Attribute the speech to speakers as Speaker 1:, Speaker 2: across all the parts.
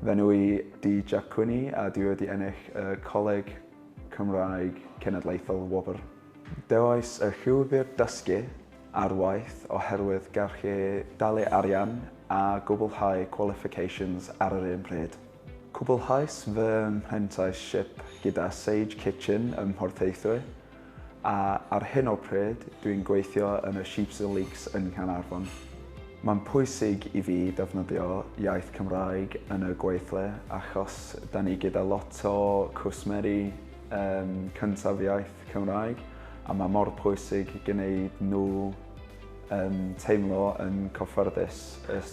Speaker 1: Fy enw i di Jack Quinney a dwi wedi ennill y Coleg Cymraeg Cenedlaethol Wobr. Dewais y llwybr dysgu ar waith oherwydd gallu dalu arian a gwblhau qualifications ar yr un pryd. Cwblhais fy mhrentisiep gyda Sage Kitchen ym Mhorthaethwy, a ar hyn o pryd dwi'n gweithio yn y Sheeps and Leeks yn Nghaernarfon. Mae'n pwysig i fi defnyddio iaith Cymraeg yn y gweithle achos da ni gyda lot o cwsmeri yym cyntaf iaith Cymraeg a mae mor pwysig gneud nhw yym teimlo yn cyffyrddus.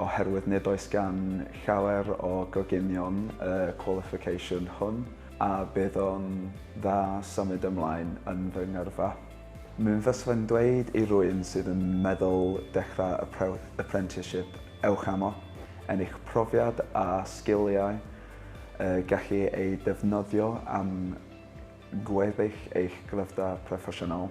Speaker 1: oherwydd nid oes gan llawer o gogenion y qualification hwn a bydd o'n dda symud ymlaen yn fy ngyrfa. Mi fysai'n dweud i rwy'n sydd yn meddwl dechrau y apprenticeship ewch amo, ennill profiad a sgiliau y gallu eu defnyddio am gweddill eich gryfda proffesiynol.